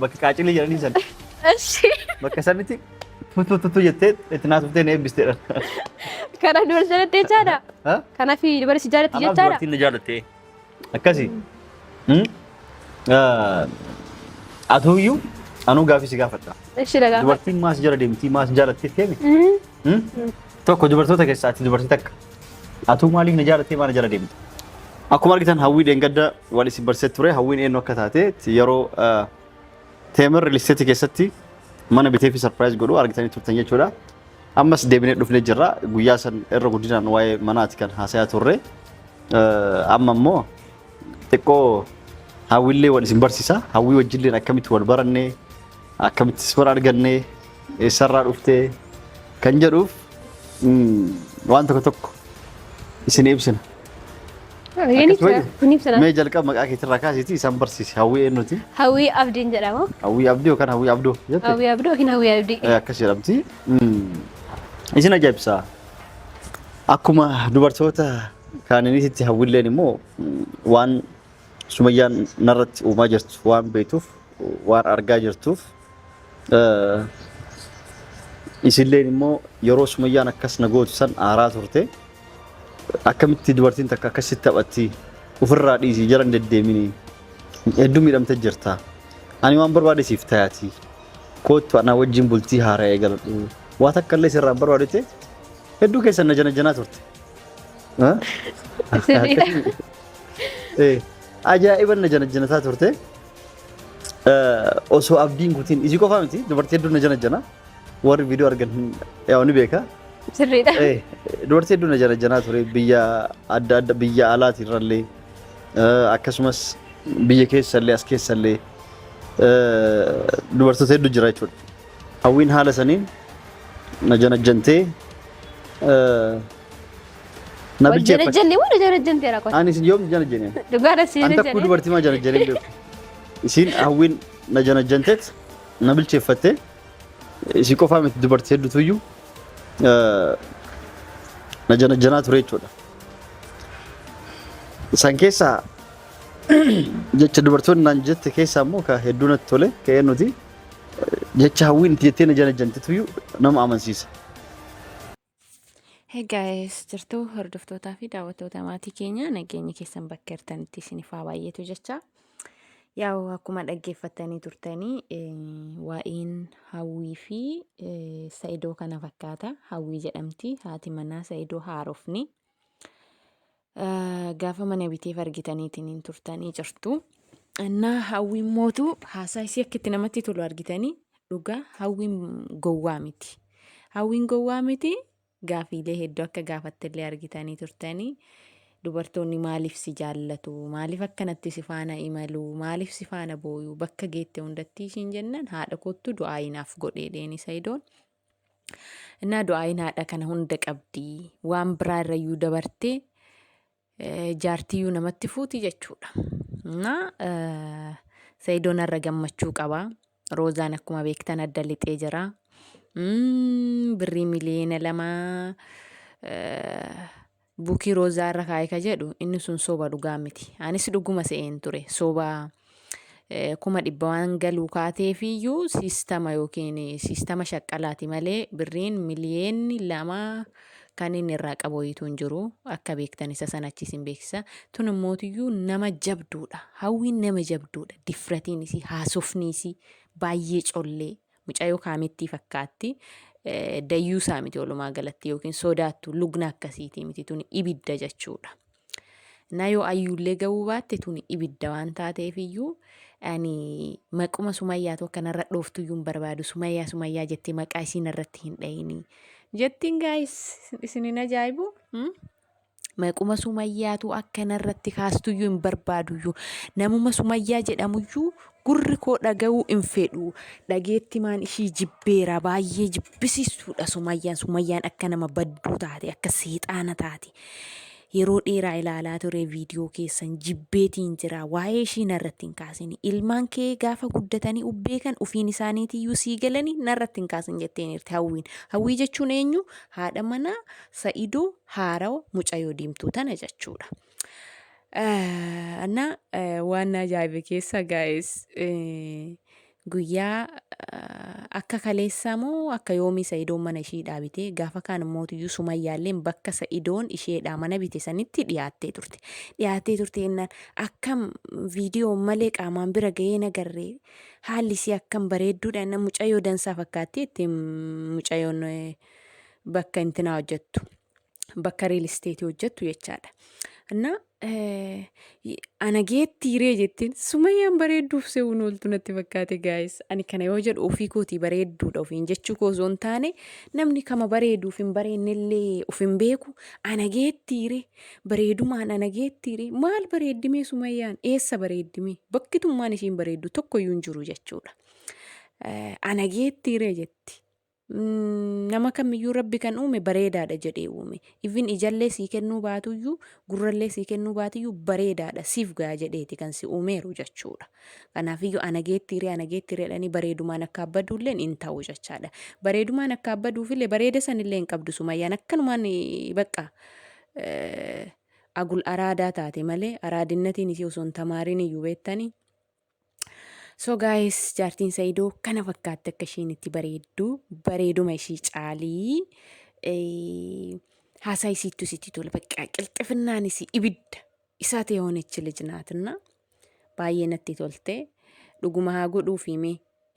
Bakka qaacilii jedhanii san. Eshi. Bakka sanitti tuttu tuttu jettee itti naasuftee na eebbisteedha. Kana dura jaalatti jechaadha. Ha? Kanaaf dubarri si jaalatti Anaaf jechaadha. dubartiin na jaalatte. Akkasi. Hmm? Ah, Atuuyyuu anuu gaafii si gaafadha. Eshi dhagaa. Dubartiin maas jala deemtii maas jaalattee teemi? Mhm. Hmm? Tokko dubartoota keessaa ati dubartii takka. Atuu maaliif na jaalattee maana jala deemta? Akkuma argitan hawwii dheengadda wal isin barsee ture hawwiin eenyu akka taate yeroo teemir listeetii keessatti mana bitee fi sarpiraayiz godhu argitanii turtan jechuudha. Ammas deebinee dhufnee jirra guyyaa san irra guddinaan waa'ee manaati kan haasayaa turre. Amma immoo xiqqoo hawwiillee wal isin barsiisa hawwii wajjilleen akkamitti wal barannee Akkamitti si bira arganne, eessarraa dhufte kan jedhuuf waan tokko tokko isin ibsina. Mee jalqaba maqaa keetirraa kaasiitii isaan barsiisi. Hawwii eenyuti? Hawwii Abdiin jedhama. Hawwii Abdii yookaan Hawwii Abdoo jette? Hawwii Abdoo yookiin Hawwii Abdii. Akkas jedhamti. Isin ajaa'ibsa. Akkuma dubartoota kaaniniititti hawwiilleen immoo waan Sumayyaan narratti uumaa jirtu waan beektuuf waan argaa jirtuuf isilleen immoo yeroo sumayyaan akkas na gootu san aaraa turte akkamitti dubartiin takka akkasitti taphatti ofirraa dhiisii jala hin deddeemini hedduu miidhamte jirta ani waan barbaade siif tayaati koottu anaa wajjin bultii haaraa eegaladhu waa takka illee sirraa hin barbaadete hedduu keessan na janajanaa turte. Sirriidha. Eh, Ajaa'iban na janajjanataa turte. Eh, Osoo abdiin kutiin isii qofaa miti dubartii hedduu na janajjana. Warri viidiyoo argan hin- yaa ni beeka. Sirriidha. Eh, Dubartii hedduu na janajjanaa ture biyya adda adda biyya alaati irrallee eh, akkasumas biyya keessallee as keessallee eh, dubartoota hedduu jira jechuudha. Hawwiin haala saniin na janajjantee na Wal bilcheeffadhe. janajjanne moo na janajjantee rakkoo? Ani isin yoom janajjane? Dhugaa dha si An takkuu janajjane. dubartii maa janajjane hin beeku. Isiin hawwiin na janajjanteet na bilcheeffatte. Isii qofaa miti dubartii hedduutu iyyuu na janajjanaa ture jechuudha. Isaan keessaa jecha dubartoonni naan jette keessaa immoo ka hedduu natti tole ka'ee nuti. Jecha hawwiin itti jettee na janajjantituyyuu nama amansiisa. Hey guys, jirtu hordoftootaa fi daawwattoota maatii keenya nageenyi keessan bakka jirtanitti isiniif haa baay'atu jecha. Yaa'u akkuma dhaggeeffattanii turtanii eh, waa'een hawwii fi eh, sa'idoo kana fakkaata. Hawwii jedhamti haati manaa sa'idoo haarofni. Gaafa mana biteef argitaniitiin hin turtanii jirtu. Annaa hawwiin mootu haasaa isii akka itti namatti tolu argitanii dhugaa hawwiin gowwaa miti. Hawwiin gowwaa miti gaafiilee hedduu akka gaafattillee argitanii turtanii dubartoonni maaliif si jaallatu maaliif akkanatti si faana imalu maaliif si faana booyu bakka geette hundattii ishiin jennan haadha koottu du'aa inaaf godheedheen isa idoon Innaa du'aayin haadha kana hunda qabdi. Waan biraa irrayyuu dabartee eh, jaartiyyuu namatti fuuti jechuudha. Innaa eh, Sayidoon irra gammachuu qaba. Roozaan akkuma beektan adda lixee jira. Mm, Birrii miliyoona lama eh, Buki rozaa irra kaa'e ka jedhu inni sun soba dhugaa miti. Anis dhuguma se'een ture soba kuma dhibba waan galuu kaateefiyyuu siistama yookiin siistama shaqqalaati malee birriin miliyeenni lama kan inni irraa qabu wayiitu hin jiru akka beektan isa sana achiis hin beeksisa. Tun immootiyyuu nama jabduudha. Hawwiin nama jabduudha. Difratiin isii haasofni isii baay'ee collee Mucayoo kaamittii fakkaatti dayyuusaa miti walumaa galatti yookiin sodaattu lugna akkasiitii miti tuni ibidda jechuudha. Na yoo ayyuullee ga'uu baatte tuni ibidda waan taateef iyyuu ani maquma sumayyaatu akka narra dhooftu iyyuu hin barbaadu sumayyaa sumayyaa jettee maqaa isiin irratti hin dhayini. Jettiin gaayis isin hin ajaa'ibu. Maquma sumayyaatu akka narratti kaastuyyuu hin barbaaduyyuu. Namuma sumayyaa jedhamuyyuu gurri koo dhaga'uu hin fedhu. Dhageettimaan ishii jibbeera baay'ee jibbisiistuudha sumayyaan. Sumayyaan akka nama badduu taate akka seexaana taate. Yeroo dheeraa ilaalaa ture viidiyoo keessan jibbeetiin jira waa'ee ishii narratti hin kaasini. Ilmaan kee gaafa guddatanii ubbeekan ufiin isaaniitiyyuu sii galanii narratti hin kaasin jetteeniirti hawwiin. Hawwii jechuun eenyu? Haadha manaa Sa'idoo haarawa mucayoo diimtuu tana jechuudha. Anna waan ajaa'ibe keessa gaa'es guyyaa akka kaleessaa moo akka yoomii sa'idoon mana ishii dhaabite gaafa kaan immoo iyyuu sumayyaalleen bakka sa'idoon isheedhaa mana bite sanitti dhiyaattee turte dhiyaattee turte jennaan akkam viidiyoo malee qaamaan bira ga'ee nagarree haalli isii akkam bareedduudha jennaan mucayyoo dansaa fakkaatti itti mucayyoon bakka intinaa hojjettu bakka riil isteetii hojjettu jechaadha. Anna ana geetti hiree jettiin sumayyaan bareedduuf se'uun ooltu natti fakkaate gaayis. Ani kana yoo jedhu ofii kootii bareedduudha ofiin jechuu koo osoo hin taane namni kama bareeduuf hin bareennellee of hin beeku ana geetti hiree bareedumaan ana geetti hiree maal bareeddimee sumayyaan eessa bareeddimee bakki tummaan ishiin bareeddu tokkoyyuu hin jiru jechuudha. Ana geetti hiree jetti. Nama kamiyyuu Rabbi kan uume bareedaadha jedhee uume. Even ijallee sii kennuu baatuyyuu, gurrallee sii kennuu baatiyyuu bareedaadha siif ga'a jedheeti kan si uumeeru jechuudha. Kanaafiyyuu ana geettiiree ana geettiireedhanii bareedumaan akka abbaduulleen hin ta'u jechaadha. Bareedumaan akka abbaduufillee bareeda sanillee hin qabdu sumayyaan akkanumaan eh, baqqa eh, agul araadaa taate malee araadinnatiin isii osoo hin tamaariin iyyuu beettanii So guys jaartiin Saidoo kana fakkaatti akka isheen itti bareeddu bareeduma ishii caalii eh, haasaa isiittu isitti tola baqqaa qilxifinnaan isii ibidda isaa ta'e hoonichi lijnaatinna baay'ee natti tolte dhuguma haa godhuuf himee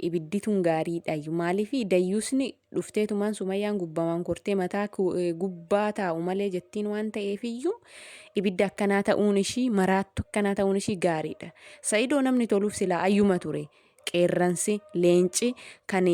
ibiddi tun gaariidhayyu maaliifi dayyuusni dhufteetumaan sumayyaan gubbamaan kortee mataa gubbaa taa'u malee jettiin waan ta'eefiyyuu ibidda akkanaa ta'uun ishii maraattu akkanaa ta'uun ishii gaariidha sa'idoo namni toluuf silaa ayyuma ture qeerransi leenci kan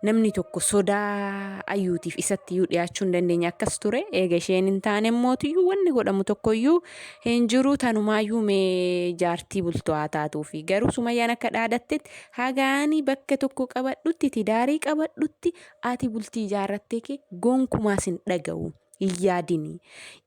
namni tokko sodaa ayyuutiif isatti iyyuu dhiyaachuu hin dandeenye akkas ture eega isheen hin taane mootiyyuu wanni godhamu tokkoyyuu Hin jiruu tanumaayyuu mee jaartii bultoo haa taatuufi garuu sumayyaan akka dhaadattetti haga ani bakka tokko qabadhutti tidaarii qabadhutti ati bultii ijaarrattee kee gonkumaa sin dhaga'u hin yaadini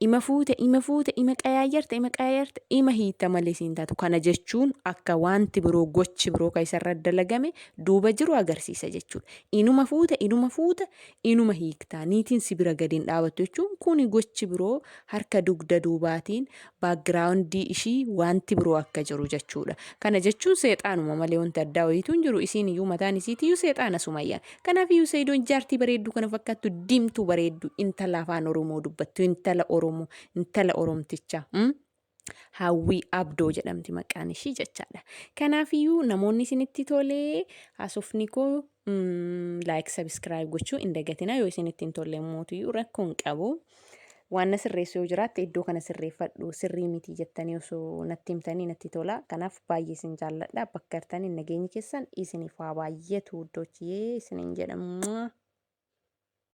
ima fuute ima fuute ima qayaayyarta ima qayaayyarta ima hiitta malee siin taatu kana jechuun akka wanti biroo gochi biroo ka isarra dalagame duuba jiru agarsiisa jechuudha inuma fuuta inuma fuuta inuma hiiktaa niitiin si bira gadi hin dhaabattu jechuun kuni gochi biroo harka dugda duubaatiin, background, ishii waanti biroo akka jiru jechuudha. Kana jechuun seexaanuma malee wanti addaa wayiitu hin jiru. Isiin iyyuu mataan isiitii iyyuu seexaana Sumayyaan. Kanaaf iyyuu Sayidoon jaartii bareedduu kana fakkaattu diimtuu bareedduu intala afaan Oromoo dubbattu intala Oromoo intala Oromtichaa. Hawwii Abdoo jedhamti maqaan ishii jechaadha. Kanaafiyyuu namoonni isinitti tolee haasofni koo laayik sabiskiraayib gochuu hin dagatina yoo isinitti hin tolle mootiyyuu rakkoo hin qabu. Waan na sirreessu yoo jiraatte iddoo kana sirreeffadhu sirrii miti jettanii osoo natti himtanii natti tola. Kanaaf baay'ee isin jaalladha bakka jirtaniin nageenyi keessan isiniif haa baay'atu iddoochiyee isiniin jedhamu.